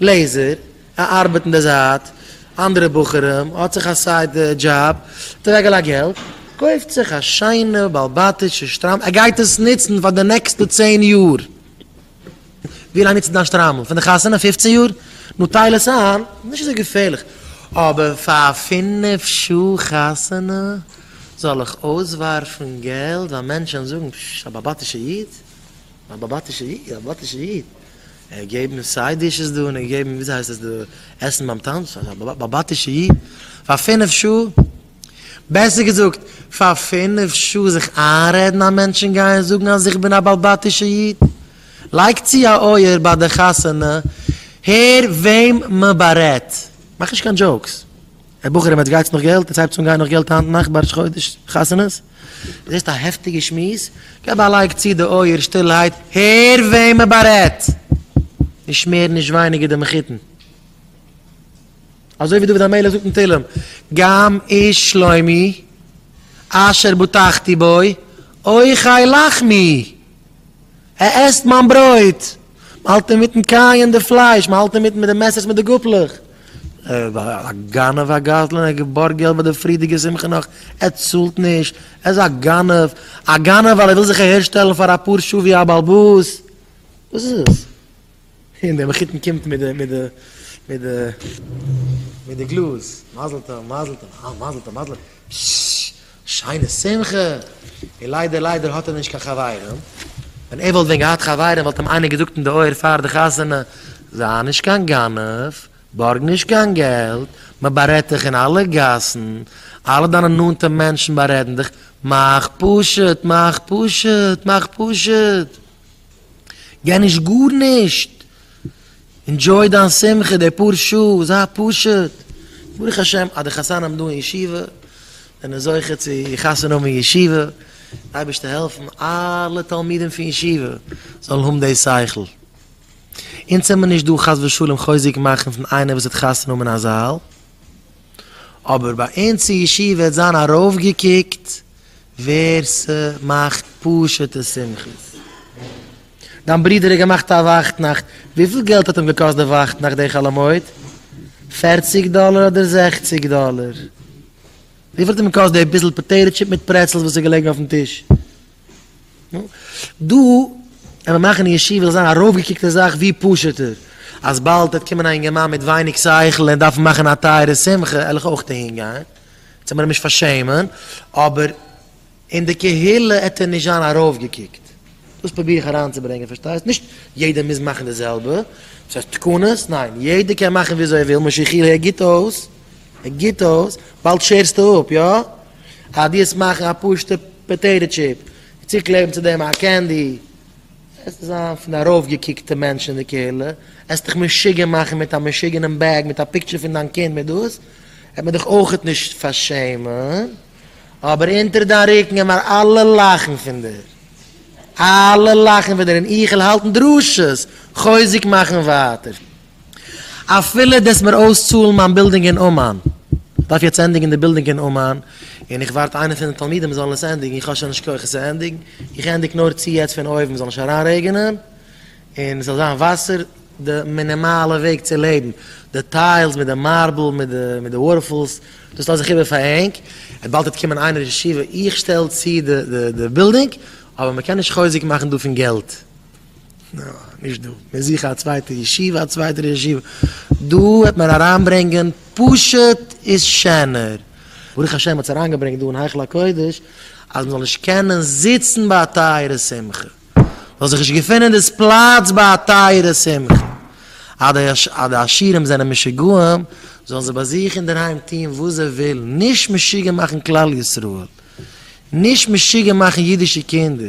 לעזער, א ארבעט אין די זייט, אנדערע בחורים, האט זיך א סייד דזשאב, האט אוועקגעלייגט געלט, קויפט זיך א שיינע בעל בתי'שע שטריימל, ער גייט עס נוצן פאר די נעקסטע צען יאר, ווי לאנג נוצסטו דיין שטריימל? פון די חתונה? פופצן יאר? נו טייל עס איין, נישט אזוי געפערליך, אבער פאר פינף שעה חתונה זאל איך אויסווארפן געלט ווייל מענטשן זאגן, פשש, א בעל בתי'שע איד, א בעל בתי'שע איד, א בעל בתי'שע איד. ער געבן מיר סיי דישעס דא און ער געבן מיר וויאזוי הייסט עס דא עסן ביים טאנץ, אזא באבאטישע איד, פאר פינף שעה, בעסער געזאגט, פאר פינף שעה זיך איינרעדן אז מענטשן גייען זאגן אז איך בין א באלבאטישע איד? לייג צו א אויער ביי די חתונה, הער וועם מען בארעדט. מאך נישט קיין דזשאוקס. ער בחורים עטס גייטס נאך געלט? עטס הייבטס אן גיין נאך געלט היינט נאכט בראש חודש חתונות? זעסט א העפטיגע שמועס? געב א לייק צי די אויער שטילעהייט הער וועם מען בארעדט! נישט מער נישט ווייניגער די מחותן. אזוי ווי דוד המלך זאגט אין תהלים גם איש שלומי אשר בטחתי בו אויך חי לחמי. ער עסט מיין ברויט! מען האלט אינמיטן קייען די פלייש, מען האלט אינמיטן מיט די מעסערס מיט די גאפלעך. ער איז א גנב א גזלן, ער האט געבארגט געלט ביי די פריערדיגע שמחה נאך, ער צאלט נישט, ער איז א גנב, א גנב ווייל ער וויל זיך אהערשטעלן פאר אפאר שעה ווי א בעל באס. וואס איז עס? און דער מחותן קומט מיט די מיט די מיט די מיט די גלאז, מזל טוב מזל טוב, אה מזל טוב מזל טוב, שששש, שיינע שמחה, און ליידער ליידער האט ער נישט קיין חברים, ווען ער וואלט ווען געהאט חברים וואלט אים איינער געזאגט אין די אויער פאר די חתונה, זיי נישט קיין גנב, בארג נישט קיין געלט, מען בארעדט דיך אין אלע גאסן, אלע דיינע נאנטע מענטשן בארעדן דיך, מאך פשוט מאך פשוט מאך פשוט. גיי נישט גארנישט, ענדזשוי דיין שמחה די פאר שעה, זיי פשוט, ברוך השם אז די חתנים דא אין ישיבה זענען זוכה צו חתונה האבן אין ישיבה, אייבערשטער העלפן אלע תלמידים פון ישיבה זאלן האבן די שכל, אונז זעמיר נישט דא חס ושלום חוזק מאכן פון איינער וואס וועט חתונה האבן אין א זאל, אבער ביי אונז אין ישיבה וועט זיין ארויפגעקוקט ווער ס'מאכט פשוטע שמחות. דיין ברודער האט געמאכט א ווייכטנאכט, וויפיל געלט האט אים געקאסט די ווייכטנאכט די חאלאמויד? פערציג דאלער אדער זעכציג דאלער? וויפיל האט אים געקאסט די ביסל פאטעיטא טשיפ מיט פרעצלס וואס איז געלעגן אויפן טיש? דא ווען מיר מאכן ישיבה זאל זיין ארויפגעקוקטע זאך ווי פשוטער, אז באלד וועט קומען א אינגערמאן מיט ווייניג שכל און דארפן מאכן א טייערע שמחה על איך אויך אהין גיין, זאל מען אים נישט פארשעמען, אבער אין די קהילה עט ער נישט זיין ארויפגעקוקט, דאס פרוביר איך אריינצוברענגען פארשטייסט, נישט יעדער מוז מאכן די זעלבע, דאס הייסט תקנות, ניין, יעדער קען מאכן וויאזוי ער וויל, משא כ ער גיט אויס, ער גיט אויס, באלד שערסטו אפ, יא? אז דו וועסט מאכן א פשוטע פאטעיטא טשיפ און צוקלעבן צו דעם א קענדי, וועסטו זיין פון די ארויפגעקוקטע מענטשן אין די קהילה, עסט דיך משוגע מאכן מיט א משוגענעם בעג מיט א פיקטשער פון דיין קינד מיט דאס, וועט מען דיך אויכעט נישט פארשעמען, אבער אונטער דיין רוקן עמער אלע לאכן פון דיר, אלע לאכן פון דיר און איכעל האלטן דרשות, חוזק מאכן ווייטער. אפילו דאס מיר אויסצאלן מיין בילדינג אין אומאן. איך דארף יעצט ענדיגן די בילדינג אין אומאן, און איך ווארט איינער פון די תלמידים זאל עס ענדיגן, איך האב שוין נישט כח עס צו ענדיגן, איך ענדיג נאר צו יעצט פון אויבן זאל נישט אריינרעגענען, און עס זאל זיין וואסער, די מינימאלע וועג צו לעבן, די טיילס מיט די מארבל, מיט די וואטערפאלס, דאס לאז איך איבער פאר ענק, באלד וועט קומען איינער ישיבה, איך שטעל צו די בילדינג, אבער מען קען נישט חוזק מאכן דא פון געלט. נא, נישט דא. מיר זוכן א צווייטע ישיבה, א צווייטער ישיבה. דא העט מען אריינברענגען פשוט איז שענער. ברוך השם האט עס אריינגעברענגט דא אין היכל הקודש, אז מען זאל נישט קענען זיצן ביי א טייערע שמחה. זאל זיך נישט געפונען דאס פלאץ ביי א טייערע שמחה. אז די עשירים זענען משוגעים, זאלן זיי ביי זיך אינדערהיים טון וואס זיי ווילן. נישט משוגע מאכן כלל ישראל. נישט משוגע מאכן אידישע קינדער.